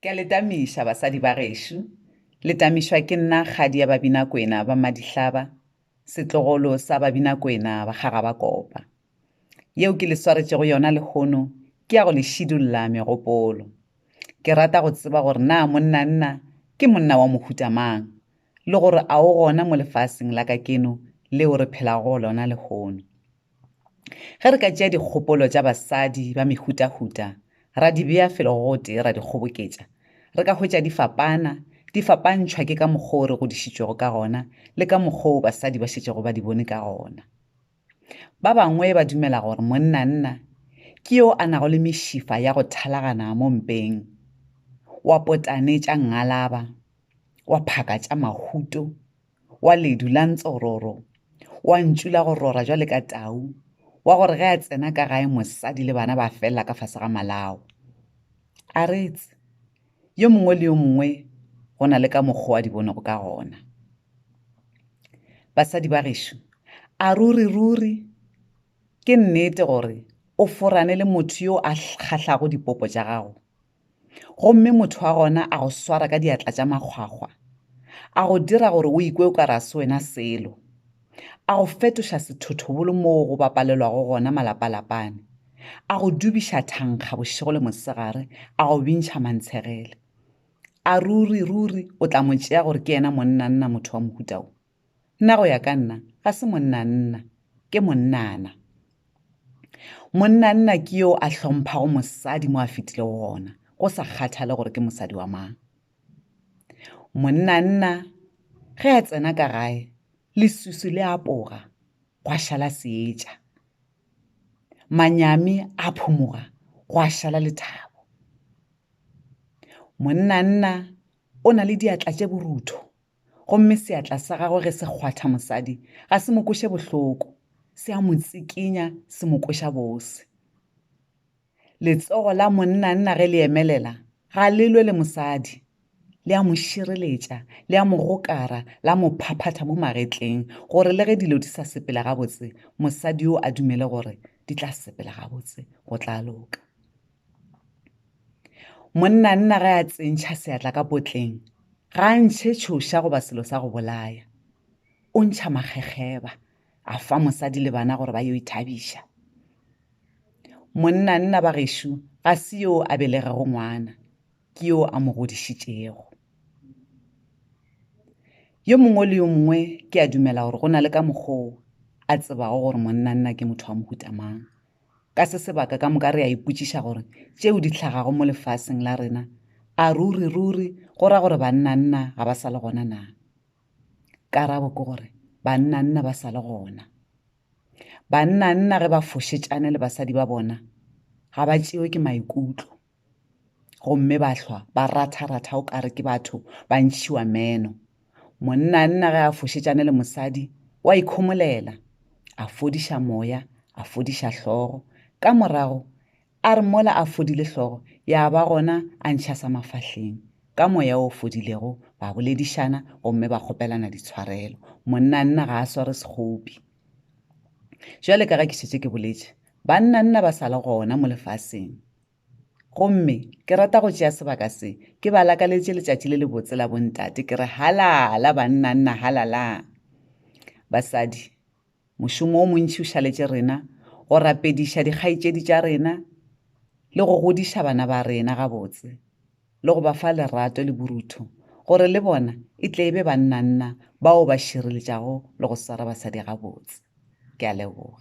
Ke a le tamiša, basadi ba gešo. Le tamišwa ke nna kgadi ya Babinakwena ba Madihlaba, setlogolo sa Babinakwena ba Kgagabakopa. Yeo ke le swaretšego yona lehono ke ya go le šidulla megopolo. Ke rata go tseba gore na monnanna ke monna wa mohuta mang le gore a o gona mo lefaseng la kakeno leo re phelago go lona lehono. Ge re ka tšea dikgopolo tša basadi ba mehutahuta ra di bea felo go gotee ra di kgoboketša, re ka hwetša di fapana, di fapantšhwa ke ka mokgwa wo re godišitšwego ka gona le ka mokgwa wo basadi ba šetšego ba di bone ka gona. Ba bangwe ba dumela gore monnanna ke yo a nago le mešifa ya go thalagana mo mpeng, wa potane tša ngalaba, wa phaka tša mahuto wa ledu la ntsororo wa ntšu la go rora jwale ka tau wa gore ge a tsena ka gae mosadi le bana ba felela ka fase ga malao a retse yo mongwe le yo mongwe go na le ka mokgwa wa di bonego ka gona basadi ba gešo a ruri ruri ke nnete gore o forane le motho yo a kgahlago dipopo tša gago gomme motho wa gona a go swara ka diatla tša makgwakgwa a go dira gore o ikwe o ka ra se wena selo a go fetoša sethothobolo moo go bapalelwago gona malapalapane a go dubiša thankga bošego le mosegare a go bintšha mantshegele a ruri ruri o tla mo tšea gore ke yena monnanna motho wa mohutao Nna go ya ka nna ga se monnanna, ke monnana. Monnanna ke yo a hlomphago mosadi mo a fetile go gona, go sa kgathale gore ke mosadi wa mang. Monnanna ge a tsena ka gae, lesusu le apoga, gwa šala seetša. Manyami a phomoga, gwa šala lethabo. Monnanna o na le diatla tše borutho, Gomme seatla sa gagwe ge se kgwatha mosadi, ga se mo kweše bohloko, se a mo tsikinya, se mo kweša bose. Letsogo la monnanna ge le emelela, ga le lwe le mosadi. Le a mo šireletša, le a mo gokara, la mo phaphatha mo magetleng, gore le ge dilo di sa sepela gabotse, mosadi yo a dumele gore di tla sepela gabotse, go tla loka. monnanna ge a tsentšha seatla ka potleng ga a ntšhe tšhoša goba selo sa go bolaya o ntšha makgekgeba a fa mosadi le bana gore ba yo ithabiša monnanna ba gešo ga se yo a belegego ngwana ke yo a mo godišitšego yo mongwe le yo mongwe ke a dumela gore go na le ka mokgoo a tsebago gore monnanna ke motho wa mohutamang Ka se sebaka ka moka re a ipotšiša gore tšeo di hlagago mo lefaseng la rena a ruri ruri go ra gore bannanna ga ba sa le gona na? Karabo ke gore bannanna ba sa le gona. Bannanna ge ba fošetšane le basadi ba bona ga ba tšewe ke maikutlo. gomme ba hlwa ba ratha-ratha o kare ke batho ba ntšhiwa meno monnanna ge a fošetšane le mosadi o a ikhomolela a fodiša moya a fodiša hlogo ka morago a re mola a fodile hlogo ya ba gona a ntšha sa mafahleng ka moya o fodilego ba boledišana gomme ba kgopelana ditshwarelo monnanna ga a sware sekgopi jale ka ge ke šetse ke boletše bannanna ba sala gona mo lefaseng Gomme ke rata go tšea sebaka se, ke ba lakaletše letšatši le lebotse la bontate, ke re halala banna nna halala. Basadi, mošomo o montši o šaletše rena, go rapediša dikgaetšedi tša rena, le go godiša bana ba rena gabotse, le go ba fa lerato le borutho, gore le bona e tle e be banna nna bao ba šireletšago le go swara basadi gabotse. Ke a leboga.